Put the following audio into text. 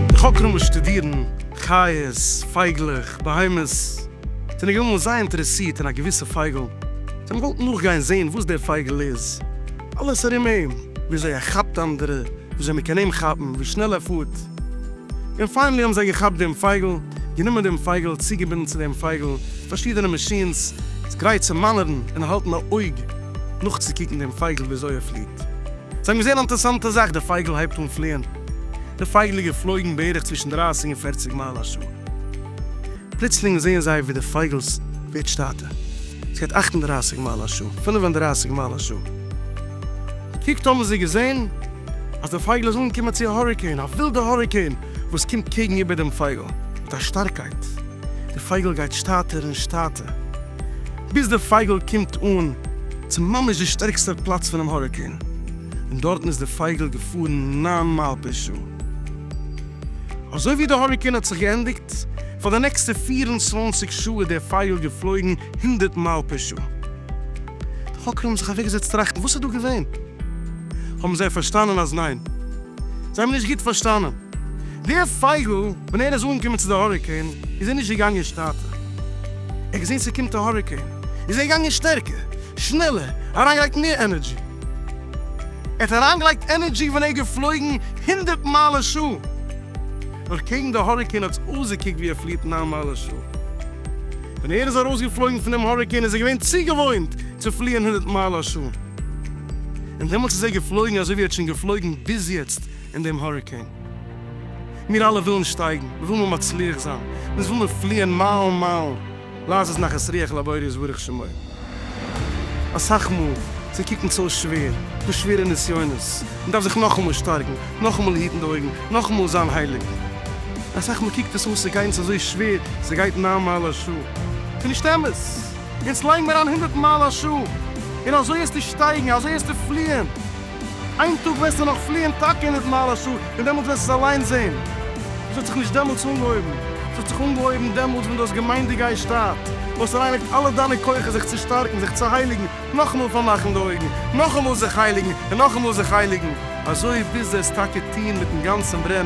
די חוקרים וואס שטודירן חיות, פייגלעך, בהמות, זענען געווען אמאל זייער אינטערעסירט אין א געוויסע פייגל, זיי האבן געוואלט נאכגיין זען וואס דער פייגל איז, אלעס ארום אים, וויאזוי ער כאפט אנדערע, וויאזוי מען קען אים כאפן, ווי שנעל ער פארט. און פיינעלי האבן זיי געכאפט דעם פייגל, גענומען דעם פייגל, צוגעבינדן צו דעם פייגל פארשידענע מאשינס, איז גרייט צו מאנערן און האלטן א אויג נאכצוקוקן דעם פייגל וויאזוי ער פליעט. זיי האבן געזען א אינטערעסאנטע זאך, דער פייגל הייבט אן פליען, דער פייגל איז געפלויגן בערך צווישן דרייסיג און פערציג מייל א שעה. פלוצלינג זעען זיי ווי די פייגלס ווערט שטאטע, עס גייט אַכט און דרײַסיק מייל א שעה, פֿינף און דרײַסיק מייל א שעה. געקוקט האבן זיי געזען אז די פייגל איז אנגעקומען צו א האריקעין, א ווילדע האריקעין וואס קומט קעגן איבער דעם פייגל מיט א שטארקייט, די פייגל גייט שטאטער און שטאטע, ביז די פייגל קומט אן צו ממש די שטערקסטער פלאץ פונעם האריקעין, און דארטן איז די פייגל געפארן נײַן מייל פער שעה. אזוי ווי די האריקעין האט זיך געענדיגט, פאר די נעקסטע פֿיר און צוואַנציק שעה איז דער פייגל געפלויגן הונדערט מייל פער שעה. די חוקרים האבן זיך אוועקגעזעצט טראכטן וואס איז דא געווען. האבן זיי פארשטאנען אז ניין. זיי האבן נישט גוט פארשטאנען. דער פייגל ווען ער איז אנגעקומען צו די האריקעין איז ער נישט געגאנגען שטאטער. ער האט געזען ס'קומט א האריקעין איז ער געגאנגען שטערקער, שנעלער, אריינגעלייגט מער ענערדזשי. ער האט אריינגעלייגט ענערדזשי ווען ער איז געפלויגן הונדערט מייל א שעה, נאר קעגן די האריקעין האט עס אויסגעקוקט ווי ער פליעט נײַן מייל א שעה. ווען ער איז ארויסגעפלויגן פון דעם האריקעין איז ער געווען צוגעוואוינט צו פליען הונדערט מייל א שעה, און דעמאלטס איז ער געפלויגן אזוי ווי ער האט שוין געפלויגן ביז יעצט אין דעם האריקעין. מיר אלע ווילן שטייגן, מיר ווילן מצליח זיין, אונז וויל מיר פליען מיילן מיילן. לאז עס נחת רוח לבורא יתברך שמו. אסאך מאל צו קוקן צו איז שווער, דא שווערע נסיונות, מען דארף זיך נאכאמאל שטארקן, נאכאמאל היטן די אויגן, נאכאמאל זיין הייליג. אסאך מאל קוקט עס אויס צו גיין צו אזוי שווער, ס'גייט נײַן מייל א שעה. ס'נישט אמת! אונז לייגן אריין הונדערט מייל א שעה, און אזוי העסטו שטייגן, אזוי העסטו פליען. איין טאג וועסטו נאך פליען טאקע אין די דממה שעה, און דעמאלטס וועסטו עס אליין זען. עס האט זיך נישט דעמאלטס אנגעהויבן, עס האט זיך אנגעהויבן דעמאלטס ווען דו האסט געמיינט דו גייסט שטארבן, דו האסט אריינגעלייגט אלע דיינע כוחות זיך צו שטארקן, זיך צו הייליגן, נאכאמאל פארמאכן די אויגן, נאכאמאל זיך הייליגן, און נאכאמאל זיך הייליגן, אזוי ביז דו העסט טאקע טון מיט'ן גאנצן ברען,